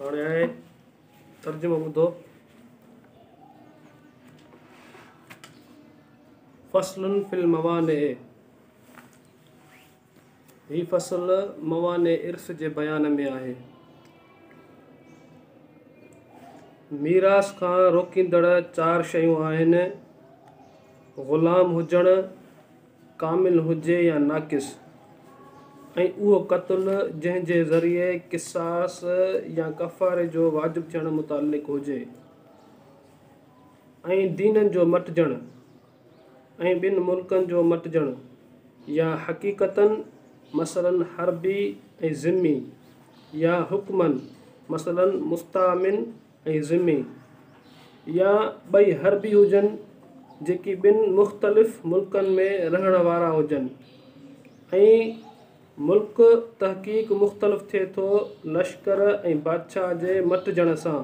هاڻي آهي ترجمو ٻڌو فصل في الموانع هي فصل موانع عرس جي بيان ۾ آهي ميراث کان روڪيندڙ چار شيون آهن غلام هجڻ ڪامل هجي يا ناقص، ۽ اهو قتل جنهن جي ذريعي قصاص يا ڪفاري جو واجب ٿيڻ متعلق هجي، ۽ دينن جو مٽجڻ، ۽ ٻن ملڪن جو مٽجڻ، يا حقيقتاً، مثلاً حربي ۽ ذمي، يا حڪماً، مثلاً مستامن ۽ ذمي يا ٻئي هر به هجن جيڪي ٻن مختلف ملڪن ۾ رهڻ وارا هجن ۽ ملڪ تحقيق مختلف ٿئي ٿو لشڪر ۽ بادشاهه جي مٽجڻ سان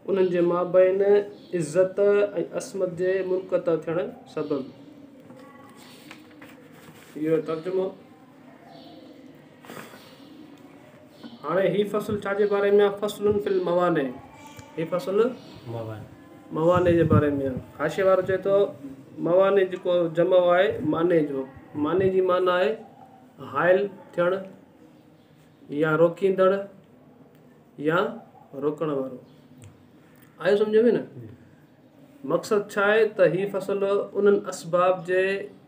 انهن جي مابين عزت ۽ عصمت جي منقطع ٿيڻ سبب. اهو ترجمو. هاڻي هي فصل ڇا جي باري ۾ آ؟ فصل في الموانع، هي فصل موانع جي باري ۾ آ. حاشيي وارو چئي ٿو موانع جيڪو جمع آهي مانع جو، مانع جي معنيٰ آهي حائل ٿيڻ يا روڪيندڙ يا روڪڻ وارو. آيو سمجهه ۾ نه؟ مقصد ڇا آهي ته هي فصل انهن اسباب جي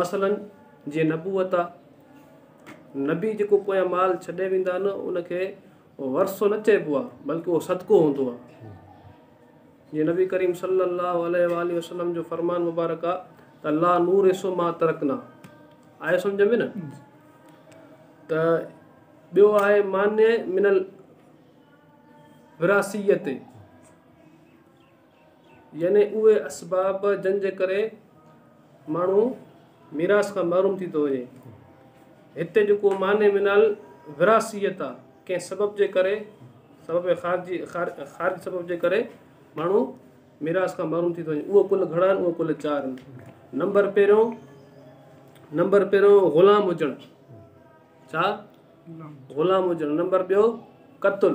مثلا جيئن نبوت آ، نبي جيڪو پويان مال ڇڏي ويندا آهن ان کي ورثو نه چئبو آ بلڪه اهو صدقو هوندو آ جيئن نبي ڪريم صلي الله عليه واٰله وسلم جو فرمان مبارڪ آ ته لا نورث ما ترڪنا آيو سمجھ ۾ نه ته ٻيو آهي مانع من الوراثيت يعني اهي اسباب جن جي ڪري ماڻهو ميراث کان محروم ٿي ٿو وڃي. هتي جيڪو معني من الوراثيت آ، ڪنهن سبب جي ڪري، سبب خارجي، خارجي سبب جي ڪري ماڻهو ميراث کان محروم ٿي ٿو وڃي. اهو ڪل گهڻا آهن؟ اهو ڪل چار آهن. نمبر پهريون، نمبر پهريون غلام هجڻ. ڇا؟ غلام هجڻ. نمبر ٻيو قتل.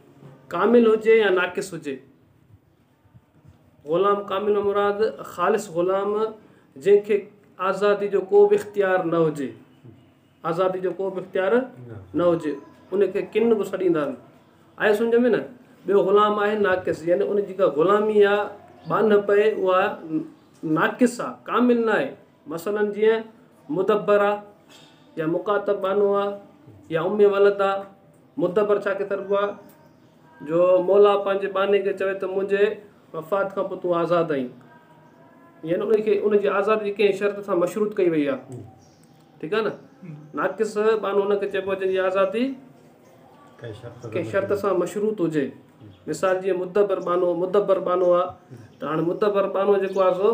ڪامل هجي يا ناقص هجي. غلام ڪامل مان مراد خالص غلام جنهن کي آزادي جو ڪو به اختيار نه هجي آزادي جو ڪو به اختيار نه هجي ان کي ڪن به سڏيندا آهن آيو سمجھ ۾ نه ٻيو غلام آهي ناقص يعني ان جيڪا غلامي آهي ٻانهپ آهي اها ناقص آهي ڪامل نه آهي مثلا جيئن مدبرا يا مخاطب بانو آ يا ام ولد آ، مدبر ڇا کي سڏبو آ جو مولا پنهنجي باني کي چوي ته منهنجي وفات کان پوء تون آزاد آهين يعني ان کي ان جي آزادي ڪنهن شرط سان مشروط ڪئي وئي آ ٺيڪ آ نه ناقص بانو ان کي چئبو آ جنهن جي آزادي ڪنهن شرط سان مشروط هجي مثال جيئن مدبر بانو مدبر بانو آ ته هاڻي مدبر بانو جيڪو آ سو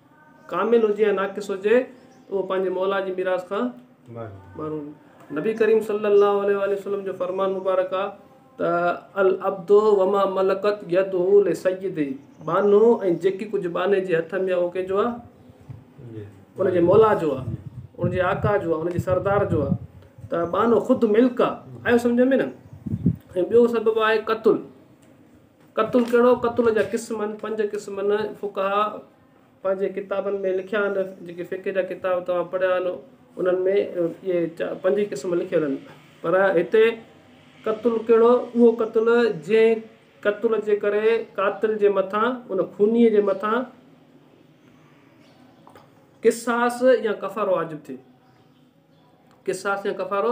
ڪامل هجي يا ناقص هجي اهو پنهنجي موليٰ جي ميراث کان محروم نبي ڪريم صلّي اللّٰه عليه واٰله وسلّم جو فرمان مبارڪ آهي ته العبد وما ملڪت يده لسيده ٻانهو ۽ جيڪي ڪجهه ٻانهي جي هٿ ۾ آهي اهو ڪنهن جو آهي؟ ان جي موليٰ جو آهي ان جي آقا جو آهي ان جي سردار جو آهي ته ٻانهو خود ملڪ آهي آيو سمجهه ۾ نه ۽ ٻيو سبب آهي قتل قتل ڪهڙو؟ قتل جا قسم آهن پنج قسم نه فقهاء پنهنجي ڪتابن ۾ لکيا آهن جيڪي فقه جا ڪتاب توهان پڙهيا آهن انهن ۾ اهي پنج ئي قسم لکيل آهن پر هتي قتل ڪهڙو اهو قتل جنهن قتل جي ڪري قاتل جي مٿان ان خوني جي مٿان قصاص يا ڪفارو واجب ٿئي قصاص يا ڪفارو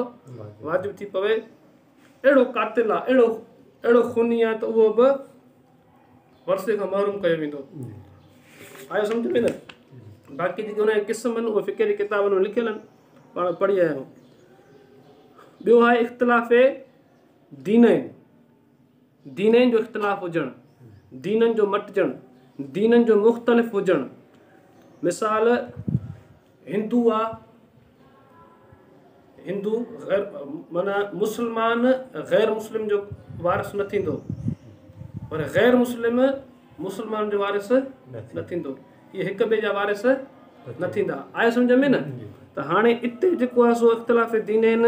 واجب ٿي پوي اهڙو قاتل آ، اهڙو اهڙو خوني آ ته اهو به ورثي کان محروم ڪيو ويندو. آيو سمجهه ۾ نه؟ باقي جيڪي ان جا قسم آهن اهي فقه جي ڪتابن ۾ لکيل آهن، پاڻ پڙهي آيا آهيون. ٻيو آهي اختلاف دينين. دينين جو اختلاف هجڻ، دينن جو مٽجڻ، دينن جو مختلف هجڻ، مثال هندو آ هندو غير معنيٰ مسلمان غير مسلم جو وارث نه ٿيندو پر غير مسلم مسلمان جو وارث نه ٿيندو اهي هڪ ٻئي جا وارث نه ٿيندا آيو سمجھ ۾ نه ته هاڻي اتي جيڪو آ سو اختلاف دينين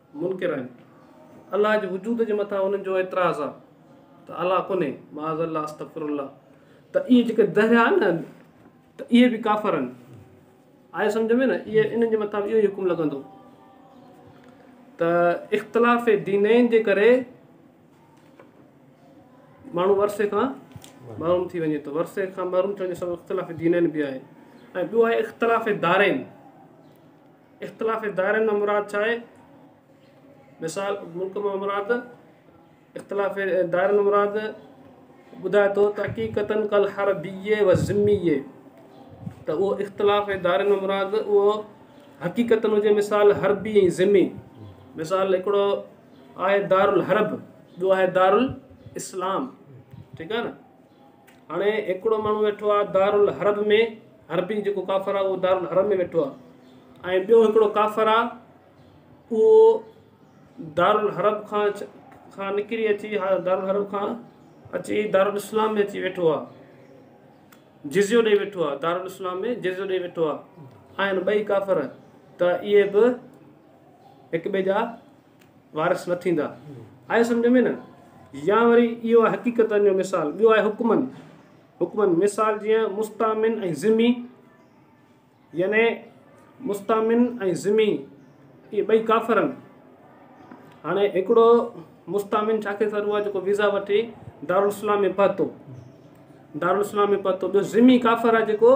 منڪر آهن. الله جي وجود جي مٿان انهن جو اعتراض آهي ته الله ڪونهي، معاذ الله استغفر الله، ته اهي جيڪي دهريا آهن نه ته اهي به ڪافر آهن. آيو سمجهه ۾ نه؟ اهي انهن جي مٿان به اهو ئي حڪم لڳندو ته اختلاف دينين جي ڪري ماڻهو ورثي کان محروم ٿي وڃي ٿو. ورثي کان محروم ٿيڻ جو سبب اختلاف دينين به آهي ۽ ٻيو آهي اختلاف دارين. اختلافي دائرن مان مراد ڇا آهي؟ مثال، ملڪ مان مراد اختلافي دائرن مان مراد ٻڌائي ٿو ته حقيقتاً ڪل هر بيئي و ذميئي ته اهو اختلافي دائرن مان مراد اهو حقيقتاً هجي مثال حربي ۽ ذمي مثال هڪڙو آهي دارالحرب ٻيو آهي دارالاسلام ٺيڪ آهي نه هاڻي هڪڙو ماڻهو ويٺو آ دارالحرب ۾ حربي جيڪو ڪافر آ اهو دارالحرب ۾ ويٺو آ ۽ ٻيو هڪڙو ڪافر آ اهو دارالحرب کان کان نڪري اچي دارالحرب کان اچي دارالاسلام ۾ اچي ويٺو آ جزيو ڏيئي ويٺو آ دارالاسلام ۾ جزيو ڏيئي ويٺو آ آهن ٻئي ڪافر ته اهي به هڪ ٻئي جا وارث نه ٿيندا. آيو سمجهه ۾ نه؟ يا وري اهو آهي حقيقتن جو مثال. ٻيو آهي حڪمن. حڪمن مثال جيئن مستامن ۽ ذمي يعني مستامن ۽ ذمي اهي ٻئي ڪافرن هاڻي هڪڙو مستامن ڇا کي ٿرو آهي جيڪو ويزا وٺي دارالاسلام ۾ پهتو دارالاسلام ۾ پهتو ٻيو ذمي ڪافر آهي جيڪو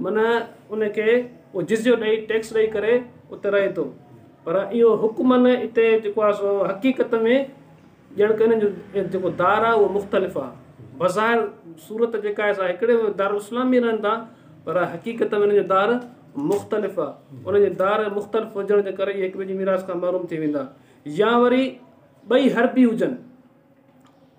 من ان کي اهو جزيو ڏئي، ٽيڪس ڏئي ڪري ات رهي ٿو. پر اهو حڪمن اتي جيڪو آهي سو حقيقت ۾ ڄڻڪ انهن جو جيڪو دار آهي اهو مختلف آهي. بظاهر صورت جيڪا آهي سا هڪڙي دارالاسلام ۾ رهن ٿا پر حقيقت ۾ انهن جو دار مختلف آهي. انهن جي دار مختلف هجڻ جي ڪري اهي هڪٻئي جي ميراث کان محروم ٿي ويندا يا وري ٻئي حربي هجن.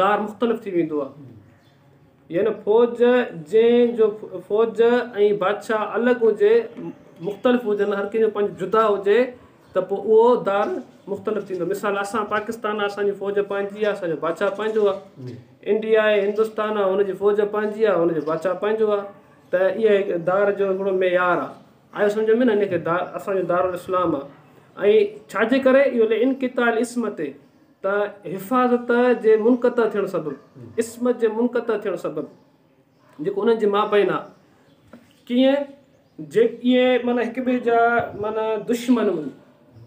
دار مختلف ٿي ويندو آ يعني فوج جنهن جو فوج ۽ بادشاهه الڳ هجي مختلف هجن هر ڪنهن جو پنهنجو جدا هجي ته پوء اهو دار مختلف ٿيندو مثال اسان پاڪستان آ اسان جي فوج پنهنجي آ اسان جو بادشاهه پنهنجو آ انڊيا آهي هندوستان آ هن جي فوج پنهنجي آ هن جو بادشاهه پنهنجو آ ته اها هڪ دار جو هڪڙو معيار آ آيو سمجهه ۾ نه ان کي دار اسان جو دارالاسلام آ ۽ ڇاجي ڪري اهو لي انقطاع الاسم تي ته حفاظت جي منقطع ٿيڻ سبب، عصمت جي منقطع ٿيڻ سبب جيڪو انهن جي مابين آ ڪيئن جي اهي معنيٰ هڪ ٻئي جا معنيٰ دشمن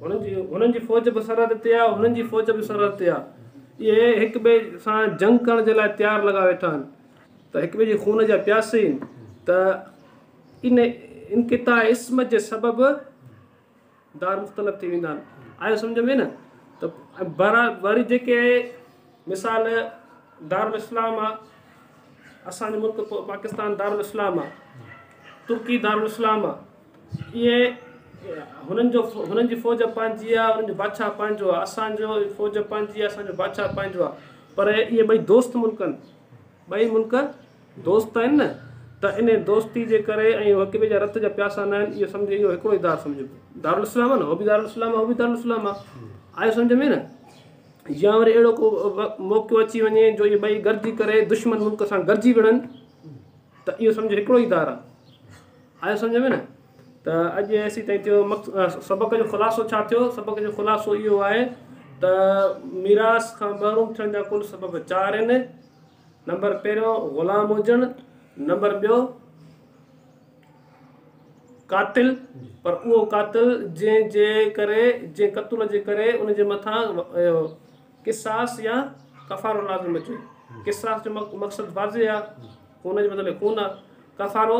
هن جي هنن جي فوج به سرحد تي آ هنن جي فوج به سرحد تي آ اهي هڪ ٻئي سان جنگ ڪرڻ جي لاء تيار لڳا ويٺا آهن ته هڪ ٻئي جي خون جا پياسي آهن ته ان انقطاع عصمت جي سبب دار مختلف ٿي ويندا آهن آيو سمجهه ۾ نه ته بهرحال وري جيڪي مثال دارالاسلام آ اسان جو ملڪ پاڪستان دارالاسلام آ ترڪي دارالاسلام آ اهي هنن جو هنن جي فوج پنهنجي آ هنن جو بادشاهه پنهنجو آ اسان جو فوج پنهنجي آ اسان جو بادشاهه پنهنجو آ پر اهي ٻئي دوست ملڪ آهن ٻئي ملڪ دوست آهن نه ته انهي دوستي جي ڪري ۽ هو هڪٻئي جا رت جا پياسا ناهن اهو سمجهي اهو هڪڙو ئي دار سمجهبو دارالاسلام آهي نه هو به دارالاسلام آهي هو به دارالاسلام آهي آيو سمجهه ۾ نه يا وري اهڙو ڪو موقعو اچي وڃي جو اهي ٻئي گڏجي ڪري دشمن ملڪ سان گڏجي وڙهن ته اهو سمجهه هڪڙو ئي دار آهي آيو سمجهه ۾ نه ته اڄ ايسي تائين ٿيو سبق جو خلاصو ڇا ٿيو سبق جو خلاصو اهو آهي ته ميراث کان محروم ٿيڻ جا ڪل سبب چار آهن نمبر پهريون غلام هجڻ نمبر ٻيو قاتل پر اهو قاتل جنهن جي ڪري جنهن قتل جي ڪري ان جي مٿان قصاص يا ڪفارو لازم اچي قصاص جو مقصد واضح آهي خون جي بدلي خون آهي ڪفارو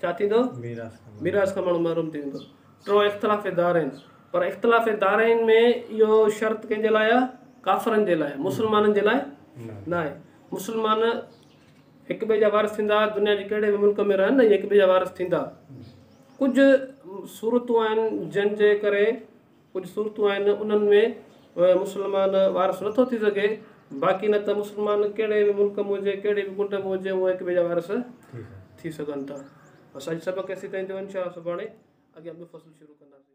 ڇا ٿيندو؟ ميراث کان ماڻهو محروم ٿي ويندو. ٽيون اختلاف دارين. پر اختلاف دارين ۾ اهو شرط ڪنهن جي لاء آهي؟ ڪافرن جي لاء، مسلمانن جي لاء ناهي. مسلمان هڪ ٻئي جا وارث ٿيندا، دنيا جي ڪهڙي به ملڪ ۾ رهن، هڪ ٻئي جا وارث ٿيندا. ڪجهه صورتون آهن جن جي ڪري ڪجهه صورتون آهن انهن ۾ مسلمان وارث نٿو ٿي سگهي باقي نه ته مسلمان ڪهڙي به ملڪ ۾ هجي ڪهڙي به ڪنڊ ۾ هجي اهي هڪ ٻئي جا وارث ٿي سگهن ٿا بس اڄ سبق ايسي تائين ٿيو انشاء الله سڀاڻي اڳيان ٻيو فصل شروع ڪنداسين.